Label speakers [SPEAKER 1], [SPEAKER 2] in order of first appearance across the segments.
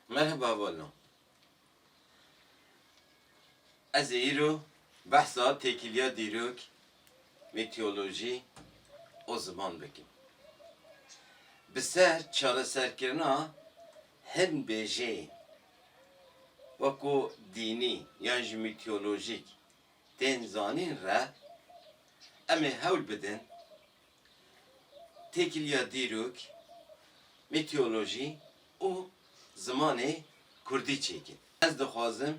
[SPEAKER 1] Merheba Vano. Ez ê îro behsa têkiliya dîrok, meteorolojî û ziman bikim. Bi ser çareserkirina hin bêjeyên weko dînî yan jî meteorolojîk tên zanîn re em ê hewl bidin Têkiliya dîrok, mîteolojî û zimanê kurdî çêke. Ez dixwazim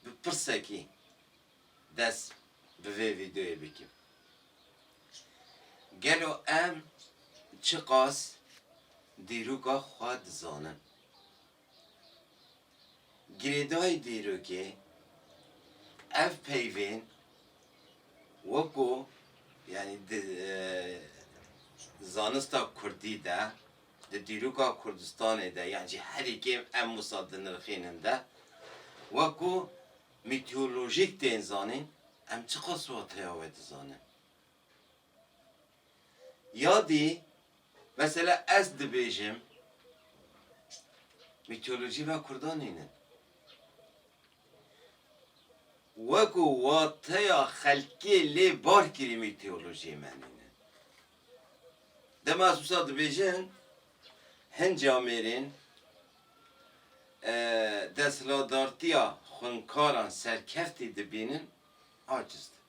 [SPEAKER 1] bi pirsekî dest bi vê vîdeoyê bikim. Gelo em çiqas dîroka xwe dizanin? Girêdayî dîrokê, ev peyvên weko yanî di zanista kurdî de, di dîroka Kurdistanê de yan jî herî kêm em wisa dinirxînin de weko mîteolojîk tên zanîn, em çiqas wateya wê dizanin. Yadî, mesela ez dibêjim, mîtolojî ve kurdan nînin. Weko wateya xelkê lê bar kirî mîtolojiyê me nînin. Dema ez wisa dibêjin, hin camêrên desthiladartiya xwinkaran serkeftî dibînin, aciz dibin.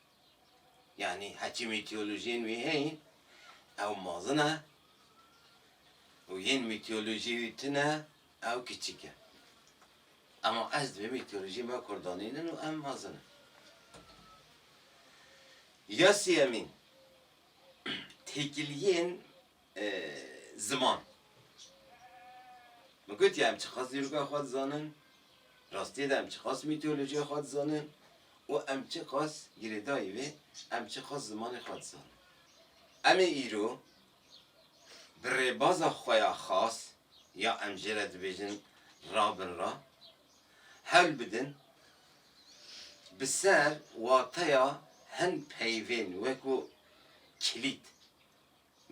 [SPEAKER 1] Yanî heçî mîtolojiyên wî heyîn ew mezin e û yên mîtolojiyê wî tune ew kiçik e. Ema ez divê mîtolojiyên me kurdanîn in û em mezin in. Ya sêyemîn, têkiliyên ziman. Min gotiye em çiqas dîroka xwe dizanin, rastiyê de em çiqas mîtolojiya xwe dizanin û em çiqas girêdayî vê em çiqas zimanê xwe dizanin. Em ê îro bi rêbaza xwe ya xas ya em jê re dibêjin rabin re hewl bidin bi ser wateya hin peyvên wek ku kilît,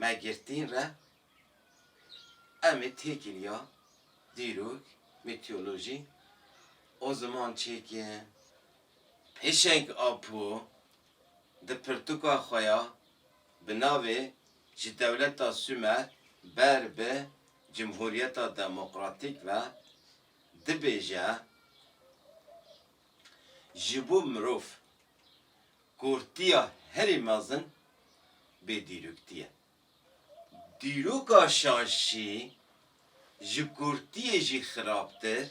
[SPEAKER 1] Me girtîn re em ê têkîl ya dîrok, mîtîolojî, û ziman çêkê Pêşeng Apo di pirtûka xwe ya bi navê Ji dewleta Sûmer ber bi Cimhûriyeta Demokratîk ve dibêje, ji bo mirov Kurtiya herî mezin bêdîrokîtî ye. Dîroka şaşî ji kurtiyê jî xirabtir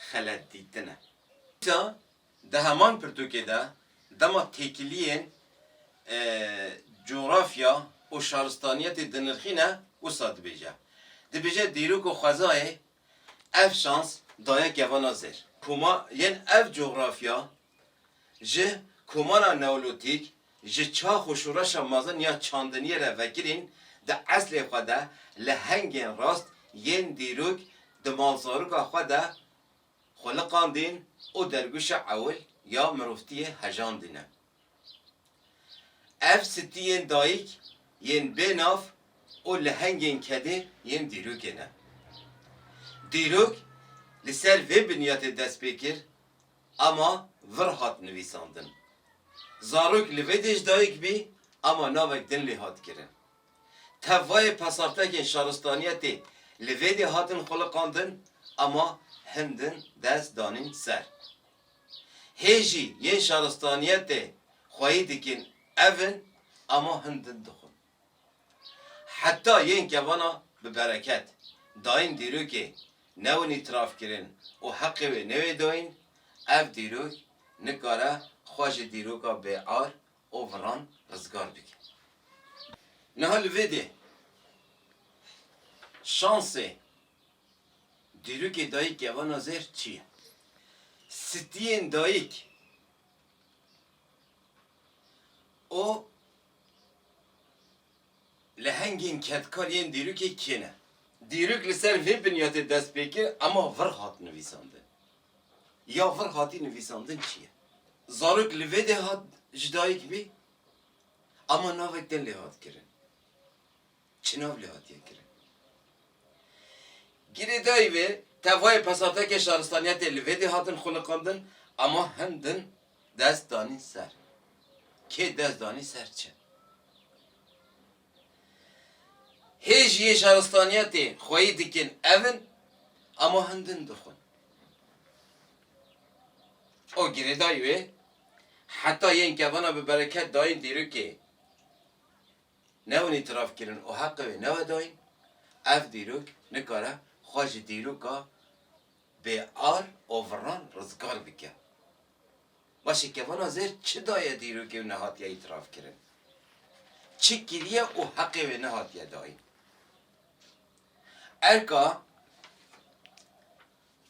[SPEAKER 1] xeletdîtin e. Îta di heman pirtûkê de dema têkiliyên cografya û şaristaniyetê dinirxîne wisa dibêje. Dibêje dîrok û xwezayê ev şans daye kevana zêr. Koma yên ev cografya Ji Komara Neolîtîk, ji çax û şoreşa mezin ya çandiniyê re vekirîn, di eslê xwe de li hengên rast yên dîrok di malzaroka xwe de xwe liqandîn û dergûşa ewil ya mirovtiyê hejandîne. Ev stiyên dayik yên bê nav û li hengên kedê yên dîrokê ne. Dîrok li ser vê binyatê dest pê kir Ama vir hat nivîsandin. Zarok li vê dê ji dayik bî ama navek din lê hat kirin. Tevayê pesartekên şaristaniyetê li vê dê hatin xwiliqandin ama hin din dest danîn ser. Hê jî yên şaristaniyetê xweyî dikin ev in ama hin din dixwin. Heta yên kevana bi bereket dayîn dîrokê newin îtîrafkirin û heqê wê newê dayîn, ev dîrok nikare xwe ji dîroka bêar û viran rizgar bike. Niha li vê dê şansê dîrokê dayîk kevana zêr çi ye? Stiyên dayîk û Lehengên kedkar yên dîrokê kê ne? Dîrok li ser vê biniyatê dest pê kir ema vir hat nivîsandin. Ya vir hatî nivîsandin çi ye? Zarok li vê dê hat ji dayik bî ema navek din lê hat kirin. Çi nav lê hatiye kirin? Girêdayî vê tevayê pesatekê şaristaniyetê li vê dê hatin xwiliqandin ema hin din Dest danîn ser. Kê dest danî ser çi? Hê jî yê şaristanîya tê xweyî dikin ev in ama hin din dixwin. O girêdayî wê heta yên kevana bi bereket dayîn dîrokê newin îtiraf kirin û heqê wê newe dayîn, ev dîrok nikare xwe ji dîroka Bê ar û viran rizgar bike. Başê kevana zêr çi daye dîrokê û nehatiye îtiraf kirin? Çi kiriye û heqê wê nehatiye dayîn? Erka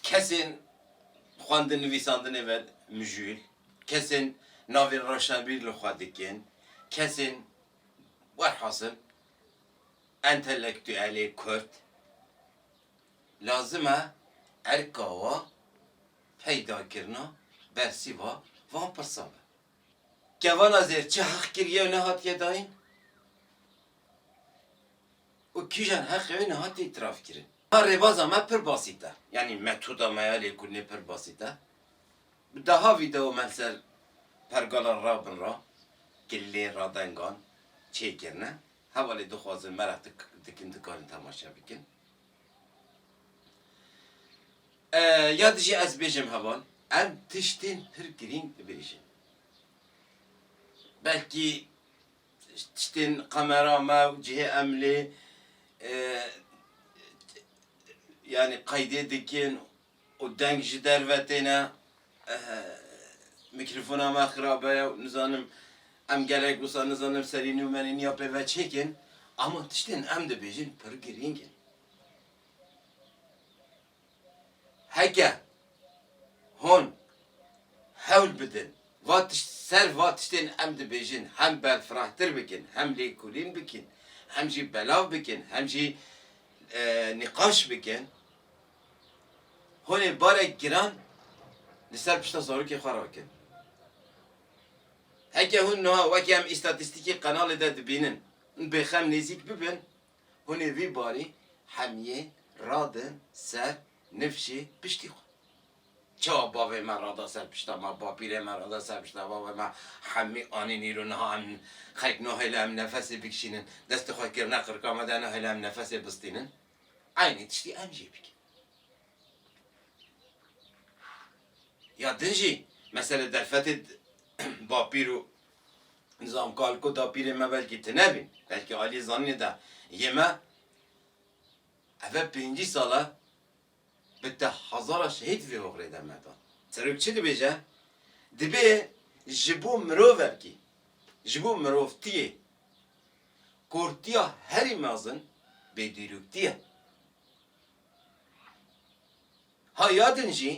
[SPEAKER 1] kesên xwendin nivîsandinê ve mijûl, kesên navên reşnebîr li xwe dikin, kesên werhasil entelektuelê kurd, Lazim e erka wa peydakirina bersîva van pirsa be. Kevana zêr çi heq kiriye û nehatiye dayîn û kîjan heqê wê nehatiye îtirafkirin. A rêbaza me pir basît e, yanî metoda me ya lêkolînê pir basît e. Bi deha vîdeo me li ser pergala rabin ra kilîlên radengan çêkirine. Hevalê dixwazin mereq dikin dikarin temaşe bikin. Ya dijî ez bêjim heval, em tiştên pir girîng dibêjin. Belkî tiştên qemera me û cihê em lê yanî qeydê dikin Û deng ji derve têne. Mîkrofona me xirabe ye û nizanim em gelek wisa nizanim serî nû me nîya pê ve çêkin. Ama tiştên em dibêjin pir girîng in. Heke hûn hewl bidin va tişt ser va tiştên em dibêjin hem berfirehtir bikin, hem lêkolîn bikin, hem jî belav bikin, hem jî nîqaş bikin Hûn ê barek giran li ser pişta zarokê xwe rakin. Heke hûn niha wekî em îstatîstîkî qenalê de dibînin û bêxem nêzîk bibin, hûn ê vî barî hemiyê radin ser nifşê piştî xwe. Çawa bavê me rada ser pişta me, bapîrê me rada ser pişta bavê me, hemî anîn îro niha em xelk nahêle em nefesê bikişînin, destê xwe kirine qirika me de nahêle em nefesê bistînin. Eynî tiştî em jî bikin. Ya din jî mesela derfetê bapîr û nizam kalk û dapîrên me belkî tune bîn, belkî aliyê zanînê de yê me eve pêncî sal e bi te hezara şehîd vê oxirê de me da. Serok çi dibêje? Dibê ji bo mirovekî, ji bo mirovtiyê Kurtiya herî mezin bêdîrûktî ye. Ha ya din jî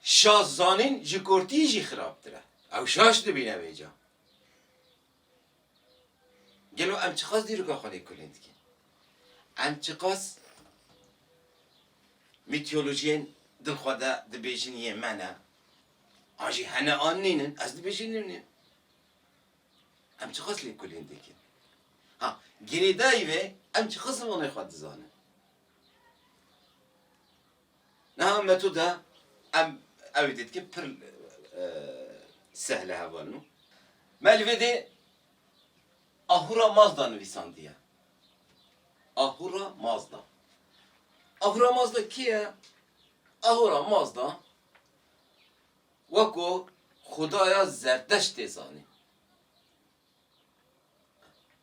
[SPEAKER 1] şaş zanîn ji kurtî jî xirabtir e. Ew şaş dibîne vê ca. Gelo em çiqas dîroka xwe lê kulîn dikin? Em çiqas mîtolojiyên din xwe de dibêjin yên me ne? An jî hene an nînin, ez dibêjî nînim. Em çi qas lêkolîn dikin? Ha, girêdayî ve em çi qas zimanê xwe dizanin? Niha metoda em ew ê dîtkin pir sehle heval nû. Me li vê dê Ahura Mazda nivîsandiye. Ahura Mazda. Ahura Mazda kê ye? Ahura Mazda Weko xudaya zerdeşt tê zanîn.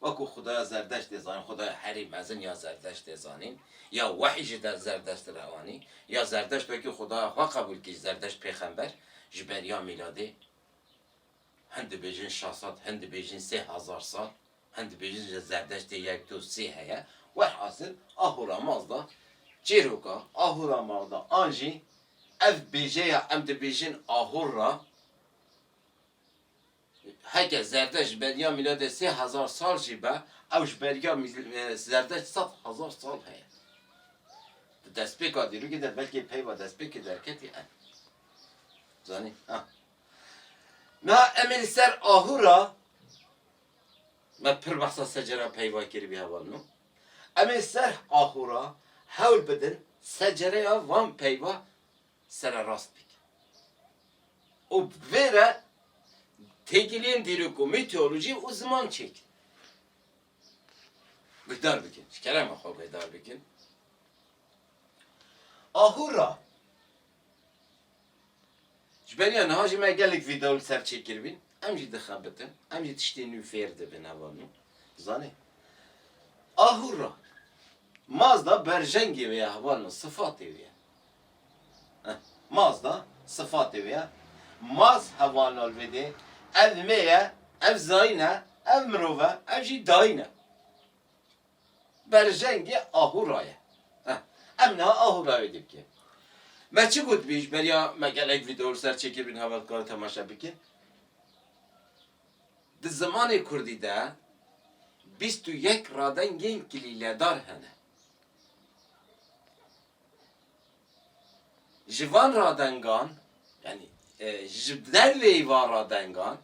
[SPEAKER 1] Weko xudaya zerdeşt tê zanîn, xudaya herî mezin ya zerdeşt tê zanîn, ya wehî ji der zerdeşt re anî, ya zerdeşt wekî xudaya xwe qebûl kir, zerdeşt pêxember ji ber ya mîladê. Hin dibêjin şah sat, hin dibêjin sê hezar sat, hin dibêjin ji Zerdeştê yek do sê heye. Welhasil Ahûra Mazda çêroka Ahûra Mazda an jî ev bêjeya em dibêjin Ahûr ra heke Zerdeşt ji beriya mîladê sê hezar sal jî be ew ji beriya Zerdeşt sed hezar sal heye. Di destpêka dîrokê de belkî peyva destpêkê derketî ev. Zanî? Ha. Na em ê li ser ahu re, me pir behsa secera peyva kir vî heval no, em ê li ser ahu re hewl bidin secereya van peyva sererast bikin û bi vê re têkiliyên dîrok û mîteolojî û ziman çêkin. Guhdar bikin, ji kerema xwe guhdar bikin. Ahu re. Ji beriya niha jî me gelek vîdeo li ser çê kiribîn, em jî dixebitin, em jî tiştên nû fêr dibin heva nû. Zanê. Ahûr ra. Mazda berjengê wê ye heva nû, sifatê wê ye. Eh, Mazda sifatê wê ye. Maz heva nû li vê dê, ev mê ye, ev zayîn e, ev mirov e, ev jî dayîn e. Berjengê Ahura ye. Em niha Ahura wê dî bikin. Me çi gotibî ji beriya me gelek vîdeo li ser çêkirî niha me dikare temaşe bikin. Di zimanê kurdî de bîst û yek radengên kilîledar hene. Ji van radengan yanî ji derveyî van radengan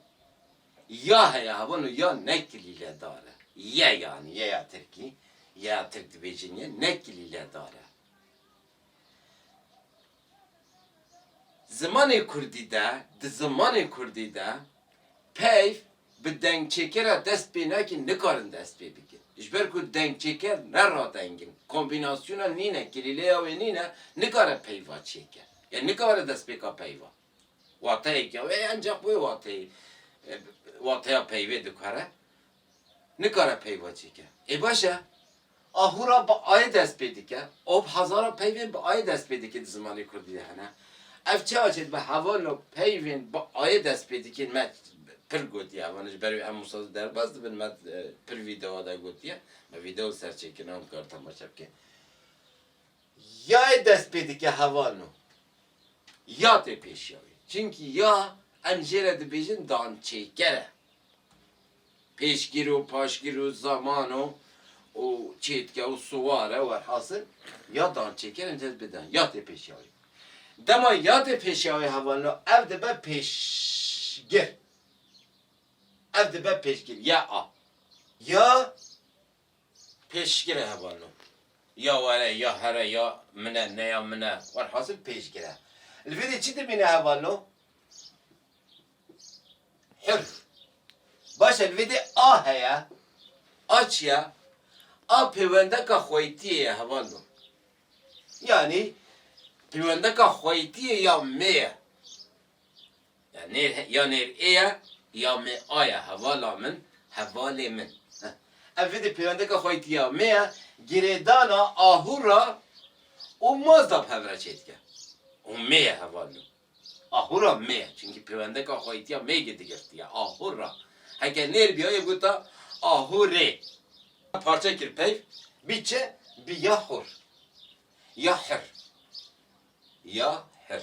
[SPEAKER 1] Ya heye hebûn û ya ne kilîledar e. Ye yanî yeya tirkî, yeya tirk dibêjin ye, ne kilîledar e. Zimanê kurdî de, di zimanê kurdî de peyv bi dengçêkera dest pê nakîn nikarin dest pê bikin. Ji ber ku dengçêker ne radeng in, kombînasyona nîne, kilîleya wê nîne, nikare peyva çêke. Ya nikare destpêka peyva. Wateyeke wê ye encax wê wateyî wateya peyvê dikare, nikare peyva çêke. Ê baş e, a hûra bi ayê dest pê dike û hezara peyvên bi ayê dest pê dikin di zimanê kurdî de hene. Ev çawa çê dibe hevalo peyvên bi ayê dest pê dikên me pir gotiye hevano ji ber wê em wisa derbas dibin me pir vîdeoa de gotiye. Me vîdeo li ser çêkirina hûn dikare temaşe bike. Yayê dest pê dike heval no. Ya tê pêşiya wê. Çimkî ya em jê re dibêjin dançêker e. Pêşgir o, paşgir o, zaman o û çêtke û siwar e werhasil ya dançêker em jê re dibêjin ya tê pêşiya wê. Dema ya tê pêşiya wê heval no ev dibe pêşgir. Ev dibe pêşgir, ya a. Ya. Pêşgir e heval no. Ya were, ya here, ya min e, ne ya min e, welhasil pêşgir e. Li vê de çi dimîne heval no? Hir. Baş e, li vê de a heye, a çi ye? A pêwendeka xweytiyê ye heval no. Yanî pêwendeka xweytiyê ya mê ye. Ya nêr he, ya nêr ê ye, ya mê a ye, hevala min, hevalê min. Ev vîdî pêwendeke xweytiya mê ye, girêdana ahûra û mazda bi hev re çê dike. Û mê ye heval min. Ahûra mê ye, çimkî pêwendeka xweytiya mê gi digirtiye, ahûra. Heke nêr bîya yê gota ahûrê. Parçe kir peyv, bî çi? Bî ya hûr. Ya hir. Ya hir.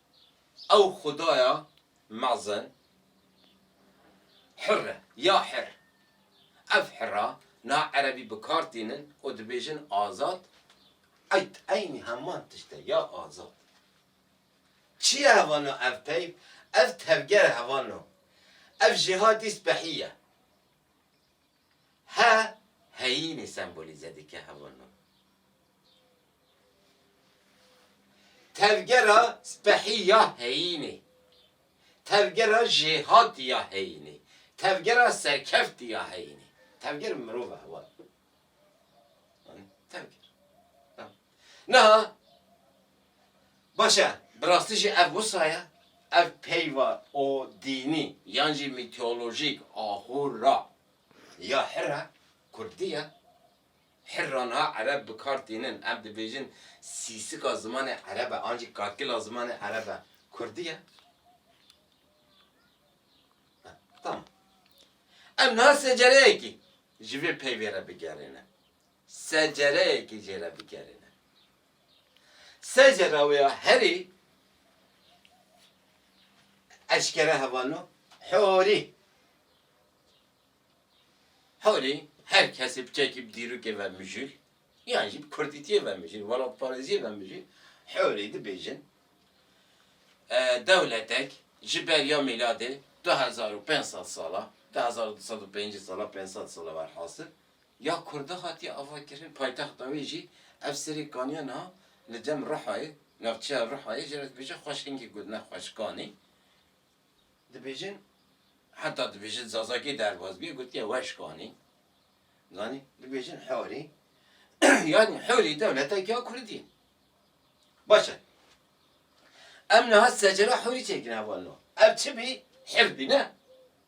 [SPEAKER 1] Ew xwedaya mezin Hir e, ya Hir. Ev Hira niha erebî bi kar tînin û dibêjin azad, Eyd, eynî heman tişt e, ya azad. Çi ye hevan o ev peyv? Ev tevger e hevan o. Ev jêha dî spehî ye. He heyînî sembolîze dike hewa nû. Tevgera spehî ya heyînî, tevgera jêhatî ya heyînî, tevgera serkeftî ya heyînî. Tevger mirov e hewa nû. Tevger. Niha Baş e, bi rastî jî ev wisa ye? Ev peyva o dînî yan jî mîteolojîk a hûrra ya hirra kurdî ye. Hirra niha ereb bi kar tînin. Em dibêjin sîsika zimanê ereb e an jî kakila zimanê ereb e kurdî ye. Tamam. Em niha secereyekî ji vê peyvê re bigerîne. secereyekî jê re bigerîne. Secera wê ya herî eşkere hevano horî. Horî her kesî biçekî bi dîrokê ve mijûl yan jî bi kurdîtiyê ve mijûl, welatparêziyê ve mijûl horî dibêjin dewletek ji ber ya mîladê du hezar û pênc sed sala, du hezar û du sed û pêncî sala, pênc sed sala werhasil, Ya Kurda hatiye avakirin paytexta wê jî ev serê kaniya niha li dem Rihayê, navçeya Rihayê jî re dibêje xweş hingî ku ne xweş kanî dibêjin heta dibêje di Zazakî derbas bûye gotiye weş kanî zanî dibêjin Hewrî yanî Hewrî dewletekî ya Kurdî ye. Baş e. Em niha secera Hewrî çêkin hevalno. Ev çi bî? Hir bî ne?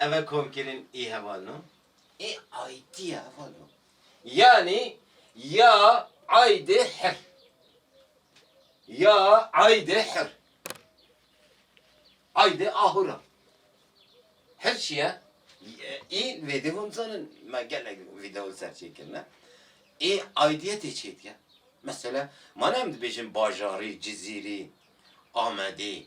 [SPEAKER 1] Ev e komkirîn ê heval no. Ê aydî ye heval no. Yanî ya aydê hir. Ya aydê hir. Aydê ahura. Hir çi ye? Ê vêdî hûn zanin me gelek vîdeo ser çê kirine. Ê aydîye tê çêdike. Mesela ma ne em dibêjin bajarî, cizîrî, amedî.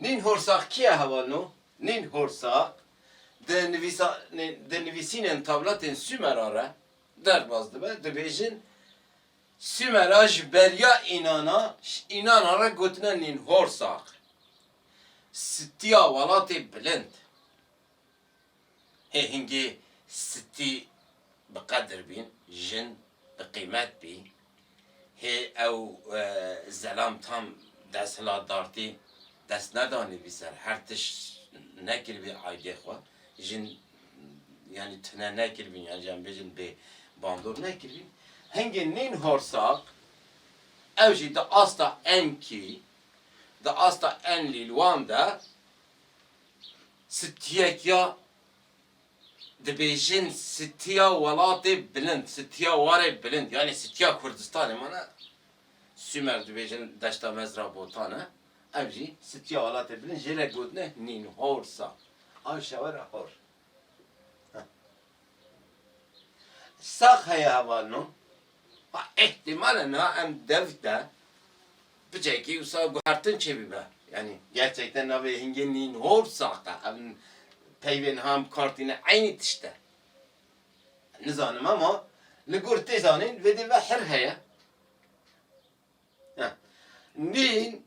[SPEAKER 1] Nîn Horsaq kî ye heval no? Nîn Horsaq di nivîsanê di nivîsînên tavlatên Sûmera re derbas dibe, dibêjin Sûmera ji beriya Înana, ji Înana re gotine Nîn Horsaq, sitiya welatê bilind. Hê hingê stî bi qedir bîn, jin bi qîmet bî. Hê ew zelam tam desthilatdartî dest nedanîbî ser her tişt nekiribî aydê xwe. Jin yanî tune nekiribîn yanî em bêjin bê bandor nekiribîn. Hingê nîn horsaq ew jî di asta enkî, di asta enlîlwan de Sitiyek ya dibêjin sitiya welatê bilind, sitiya warê bilind yanî sitiya Kurdistanê ma ne. Sumer dibêjin deşta mezra botan e, ev jî sitiya welatê bilind jêle gotine nîn, hor sa. Aşewera hor. Sax heye heval no. Ha îhtîmale niha em dev de piçekî wisa guhertin çêbîbe. Yanî gerçekten navê hingê nîn hor sax e. Ev peyvê niha em bikar tîne eynî tişt e. Nizanim ama li gor tê zanîn vêdî ve hir heye. Nîn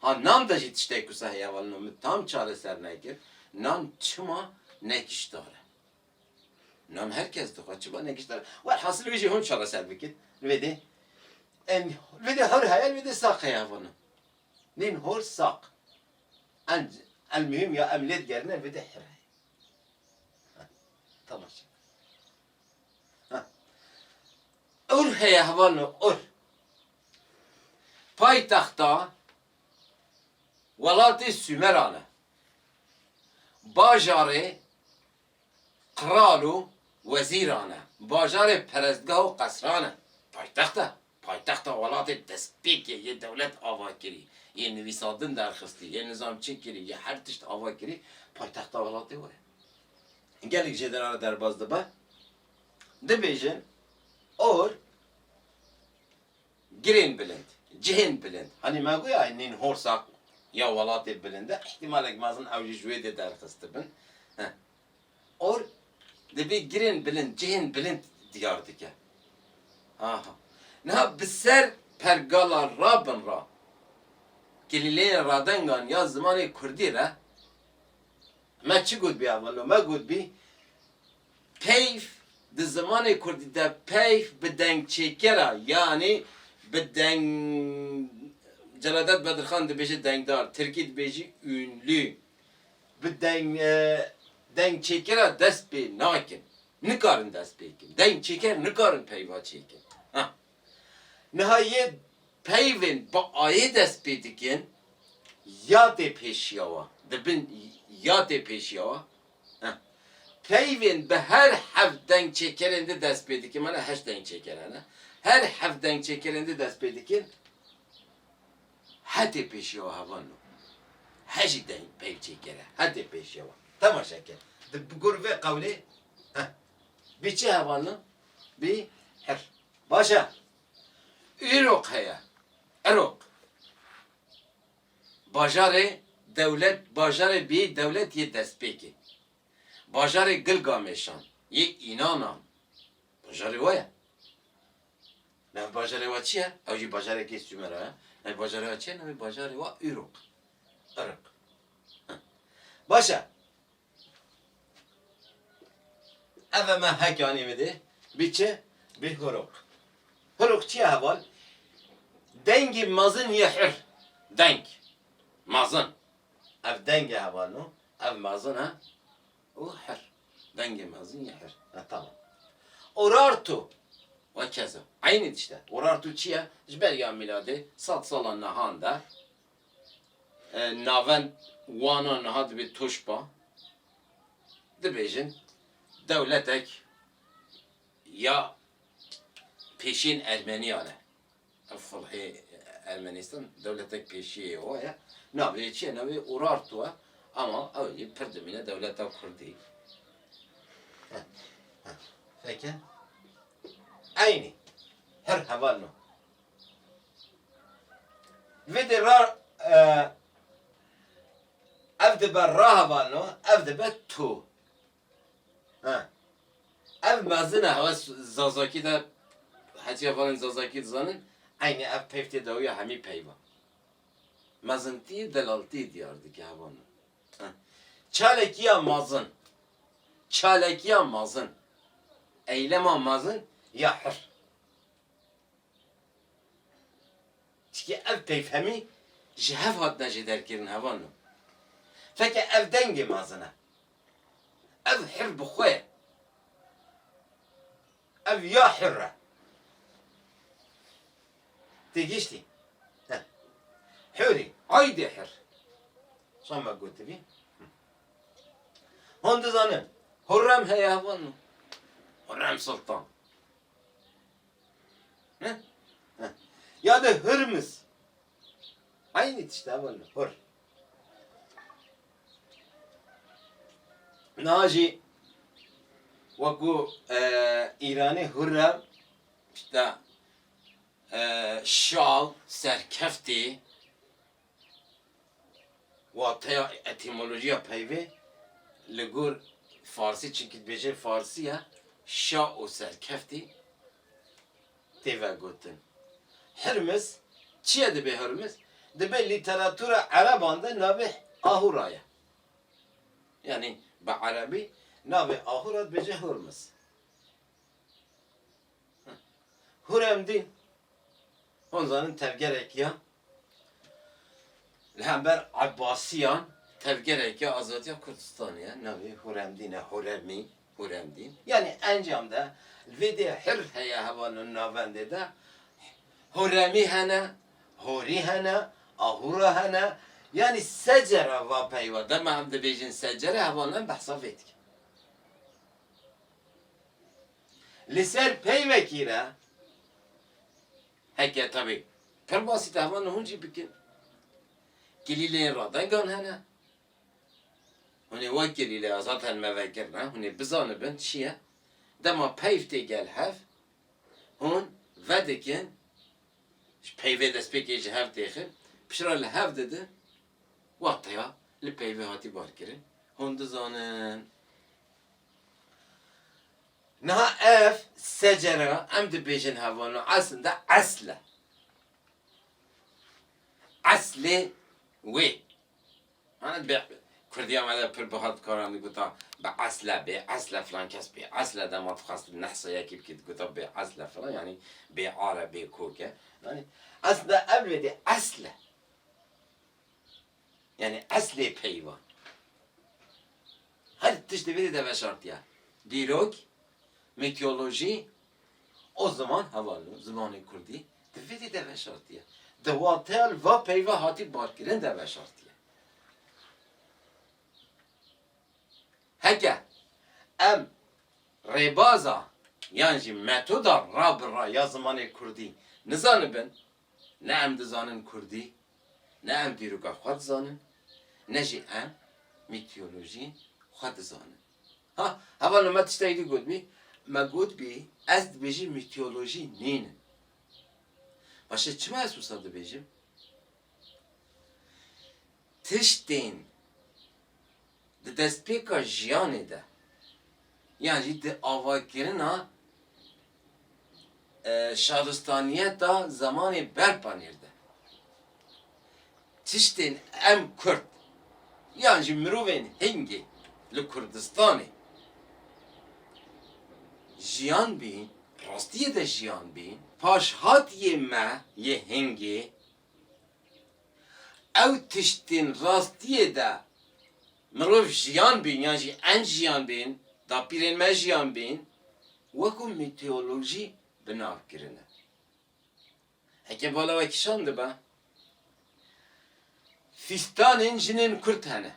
[SPEAKER 1] Ha nan de jî tiştek ku sehê hevalino min tam çareser nekir, nan çima ne kişdar e? Nan her kes dixwe, çima ne kişdar e? Welhasil wê jî hûn çareser bikin. Li vê dê em li vê dê hor heye, li vê dê saq heye hevalino. Nîn hor saq. Enc elmuhîm ya em lê digerîne li vê dê hor heye. Temaşe. Ur heye hevalno Ur. Paytexta welatê Sumeran e. Bajarê qral û wezîran e. Bajarê perestgah û qesran e. Paytext e. Paytexta welatê bi destpêkê yê dewlet ava kirî, yê nivîsandin derxistî, yê nizamçî kirî, yê her tişt ava kirî, paytexta welatê were. Gelek jê dina re derbas dibe, dibêjin or girên bilind, cihên bilind. Hanî me goya nîn horsa ya welatê bilind e, îhtîmalek mezin ew jî ji wê dê derxistibin. Or dibî girên bilind, cihên bilind diyar dike. Aha. Niha bi ser pergala rabin re, kilîleyên radengan ya zimanê kurdî re me çi gotbî ewilno? Me gotbî peyv di zimanê kurdî de peyv bi dengçêkera yanî bi deng Celadet Bedirxan dibêje dengdar, tirkî dibêjî ünlü. Bi deng dengçêkera dest pê nakin. Nikarin dest pê bikin. Dengçêker nikarin peyva çêkin. Ha. Niha yê peyvên bi ayê dest pê dikin ya tê pêşiya wan. Dibin ya tê pêşiya wan. Ha. Peyvên bi her heft dengçêkerên di dest pê dikin, mana heşt dengçêker hene. Her heft dengçêkerên di dest pê dikin. Hetê pêşiya hevan no. He jî deng peyv çêkere. Hetê pêşiya wan. Temaşe ke. Di gor vê qewlê heh. Bî çi hevan no? Bî hir. Baş e. Îroq heye. Îroq. Bajarê dewlet bajarê bî dewlet yê destpêkê. Bajarê Gilgamêşan, yê Înanan. Bajarê we ye. Navê bajarê wa çi ye? Ew jî bajarekî Sumer e. Navê bajarê wa çi ye? Navê bajarê wa Uruk. Uruk. Baş e. Ev e me hek anî min dê. Bî çi? Bî Huruk. Huruk çi ye heval? Dengê mezin yê hir. Deng. Mezin. Ev deng e heval no. Ev mezin e. û hir. Dengê mezin yê hir. E tamam. Urartu ve keza. Eynî tişt e. Urartu çi ye? Ji ber ya mîladê sed sala nihan de navend wana niha dibê Toşba dibêjin dewletek ya pêşên Ermeniyan e. Ev sulhê Ermenîstan dewletek pêşiyê we ye. Navê çi ye? Navê Urartu e. Ama ew jî pir dimîne dewleta Kurdî. Feke? Eynî. Her heval no. Vê de ra ev dibe rahevalno, ev dibe tu. Ha. Ev mezine hewa Zazaki de heciya valên Zazaki dizanin eynî ev peyv tê dawiya hemî peyvan. Mezintî delaltî diyar dike heva min. Ha. Çalekiya mezin. Çalekiya mezin. Eylema mezin ya hir. Çikî ev peyv hemî ji hev hatine jê derkirin heva min. Feke ev dengê mezine. Ev hir bi xwe ye. Ev ya hir e. Têgihîştî? He. Hirî, aydê hir. Şa me gotibî. Hûn dizanin, Hurrem heye hevan min. Hurrem Sultan. He? He. Ya de Hurmiz. Eynî tişta min li hur. Niha jî wekû Îranê hur re tişta şal, serkeftê, wateya etîmolojiya peyvê li gor farsî çunkî dibêje farsî ye şa û serkeftî. tê vegotin. Hirmiz, çiye dibê Hurmiz? Dibê lîteratûra ereban de navê Ahûra ye. Yanî bi erebî navê Ahûra dibêje Hurmiz. Huremdîn, hûn zanin tevgerek ya li hember Ebbasiyan, tevgerek ya azadiya Kurdistanê ye, navê Huremdîn e, Huremî. Hurem dîn. Yanî encam de li vê dê hir heye heval li navendê de huremî hene, horî hene, ahûra hene yanî secera va peyva dema em dibêjin secere heval em behsa vê dikin. Li ser peyvekî re heke tevî pir basî te heval li hûn jî bikin. Kilîleyên radengan hene, Hûn ê wek girî lê azad hen me ve gir ne, hûn ê bizanibin çi ye, dema peyv tê gel hev, hûn vedikin ji peyvê destpêkê ji hev tê xir, piştre li hev didin, wateya li peyvê hatî barkirin, hûn dizanin. Niha ev secere re em dibêjin heval û eslin de esl e. Eslê wê. Kurdiya me de pir buha dikaran diguta bi esle, bê esle filan kes bê esle dema dixwest nehsa yekî bikî diguta bê esle filan yanî bê ar e bê kok e. Yanî esle ev lê dê esl e. Yanî eslê peyva. Her tiştê vê dê de veşartiya. Dîrok, mîtolojî, O ziman heval o zimanê kurdî di vê dî de veşartiye. Di wateya li va peyva hatî barkirin de veşartiye. Heke em rêbaza yan jî metoda ra bi ra ya zimanê kurdî nizanibin, Ne em dizanin kurdî, ne em dîroka xwe dizanin, ne jî em mîtolojî xwe dizanin. Ha, heval li me tiştekî din gotbî, me gotbî ez dibêjim mîtolojî nînin. Başê çima ez wisa dibêjim? tiştên di destpêka jiyanê de yan jî di avakirina şaristaniyeta zemanê berpanêr de tiştên em Kurd yan jî mirovên hingê li Kurdistanê jiyan bîn, rastiyê de jiyan bîn, paşhatiyê me yê hingê. Ew tiştên rastiyê de mirov jiyan bîn yan jî enc jiyan bên, dapîrên me jiyan bên wekû mîteolojî bi nav kirine. Heke bala we kişand dibe, fîstanên jinên kurd hene.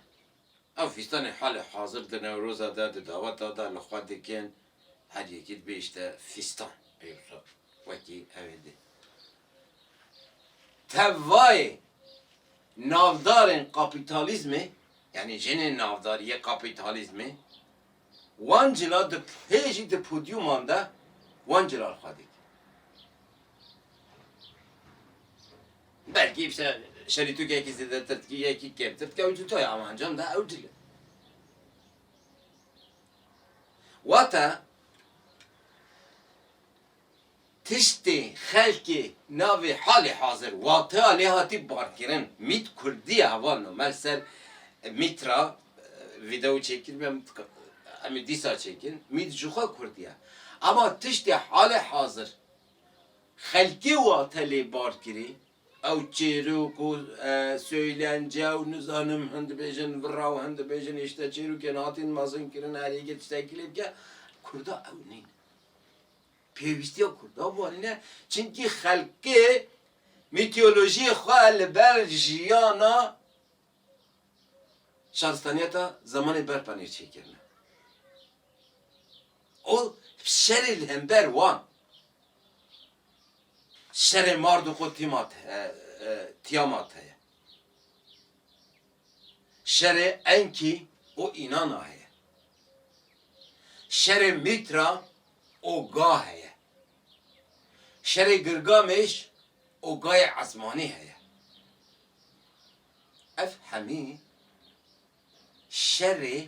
[SPEAKER 1] Ev fîstanên halê hazir di Newroza de di daveta de li xwe dikin, her yekî dibihişte fîstan pêr re wekî ew ê dê. Tevayê navdarên kapîtalîzmê, yanî jinên navdar yê kapîtalîzmê, Wan cila di hê jî di podyûman de wan cilal xwe dît. Belkî îşte şerîtûk yekî zêdetir dikî yekî kêmtir dikî ew cuta ye ama encam de ew cil e. Wate Tiştê xelkê navê halê hazir wateya lê hatî barkirin mît kurdî ye heval nomel ser mît ra vîdeo çêkirîbî em em ê dîsa çêkin mît ji xwe kurdî ye ema tiştê halê hazir xelkê wate lê barkirî ew çêrok û soylence û nizanim hin dibêjin vira û hin dibêjin îşte çêrokên hatîn mezinkirin her yekê tiştekî lê bike kurda ew nîn. Pêwîstiya Kurdan vanîne çimkî xelkê mîtolojiyê xwe li ber jiyana şaristaniyeta zemanê berpa nêçîyê kirine û şerê li hember wan şerê Mardûk û Tîamat heye. Şerê Enkî û Înana heye. Şerê Mîtra û Ga heye. Şerê Gilgamêş û Gayê Esmanî heye. Ev hemî şerê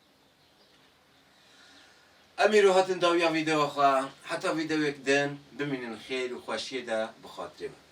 [SPEAKER 1] Em îro hatin dawiya vîdeoya xwe. Heta vîdeoyek din bimînin xêr û xweşiyê de bi xatirê min.